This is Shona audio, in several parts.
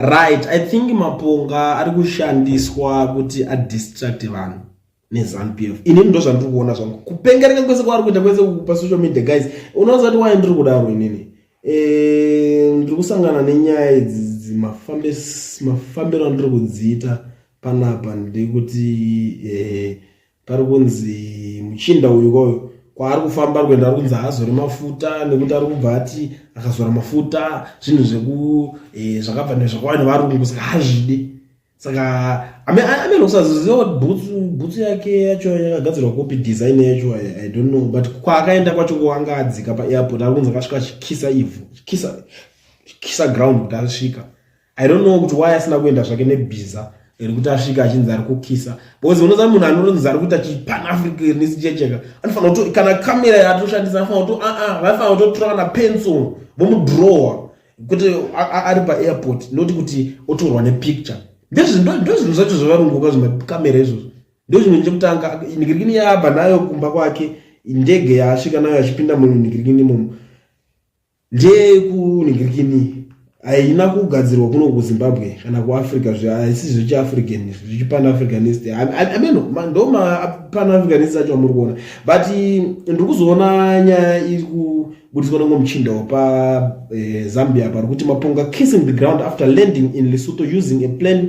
right i think maponga ari kushandiswa kuti adistract vanhu nezanu p f inini ndo zvandiri kuona zvangu kupengereka kwese kwaari kuita kwese kupa social media guys unoonza kuti waye ndiri kudaro inini eh, ndiri kusangana nenyaya idzi mafambiro andiri kudziita panapa ndekuti eh, pari kunzi muchinda uyu koyo kwaari kufamba kuenda ari kunzi haazore mafuta nekuti ari kubva ati akazora mafuta zvinhu zveku eh, zvakabva nezvakawani varungu saka hazvidi saka amene usaziziva kuti bhutsu bhutsu yake yacho yakagadzirwa kopi design yacho i don't know but kwaakaenda kwacho kwanga adzika paairport ari kunzi akasvika achikisa ivhu chikisa ground kuti asvika i don't know kuti why asina kuenda zvake nebhiza rekuti asvika achinzi ari kukisa because unoziva munhu anoronzi ari kuita chipanafricanist checheka anofanira kuto kana kamera yaatoshandisa anofanira kuto aa ah, ah, vaifanira kutotora kana pencil vomudrowa kuti ari paairport noti kuti otorwa nepicture ndozvinhu zvacho zvavarunguka zvimakamera izvozvo ndozvimwe chekutanga nigirikini yaabva nayo kumba kwake ndege yaasvika nayo achipinda munhu nigirikini imomo ndeyekuningirikini haina kugadzirwa kuno kuzimbabwe kana kuafrica haisi zvechiafrican zvechipanafricanist ameno ndo mapanafricanist acho amuri kuona but ndiri kuzoona nyaya iri kubudiswa nango muchinda wapazambia eh, pari kuti maponga kissing the ground after landing in lesotho using a plan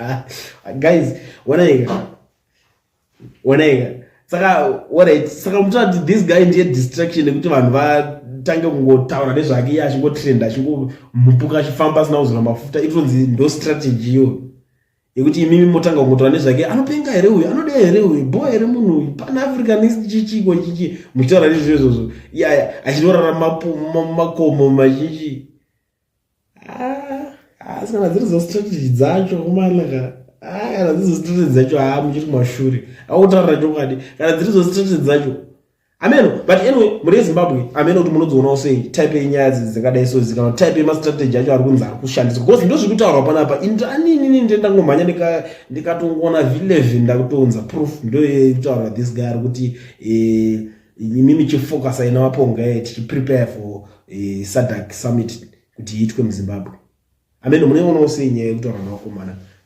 Ah, guys wanaika wanaika saka alright saka mutoona kuti this guy ndiye distraction nekuti vanhu vatange kungotaura nezvake iye achingotrenda achingomupuka achifamba asina kuzora mafuta itonzi ndo strategy iyoyo yekuti imimi motanga kungotaura nezvake anopenga here uyu anoda here uyu bho here munhu uyu pan africanist chichiko chichi muchitaura nezvizvo izvozvo iyaya achitorara makomo machichi asi kana dziri zostrategy dzacho kumanaka kana dziri zostrategy dzacho haa muchiri mashure akutaurira chokwadi kana dziri zostrategy dzacho ameno but anyway muri ezimbabwe ameno kuti munodzionawo sei type yenyaya dzidzi dzakadai so zikana type yemastrategy acho ari kunzi ari kushandiswa because ndo zviri kutaurwa panapa indaninini nde ndangomhanya ndikatongoona v11 ndakutounza proof ndoye kutaurwa this guy ari kuti eh, imi michifocusa ina waponga ye tichiprepare for eh, sadak summit kuti iitwe muzimbabwe ameno muneonawo sei nyaya yekutaura nawakomana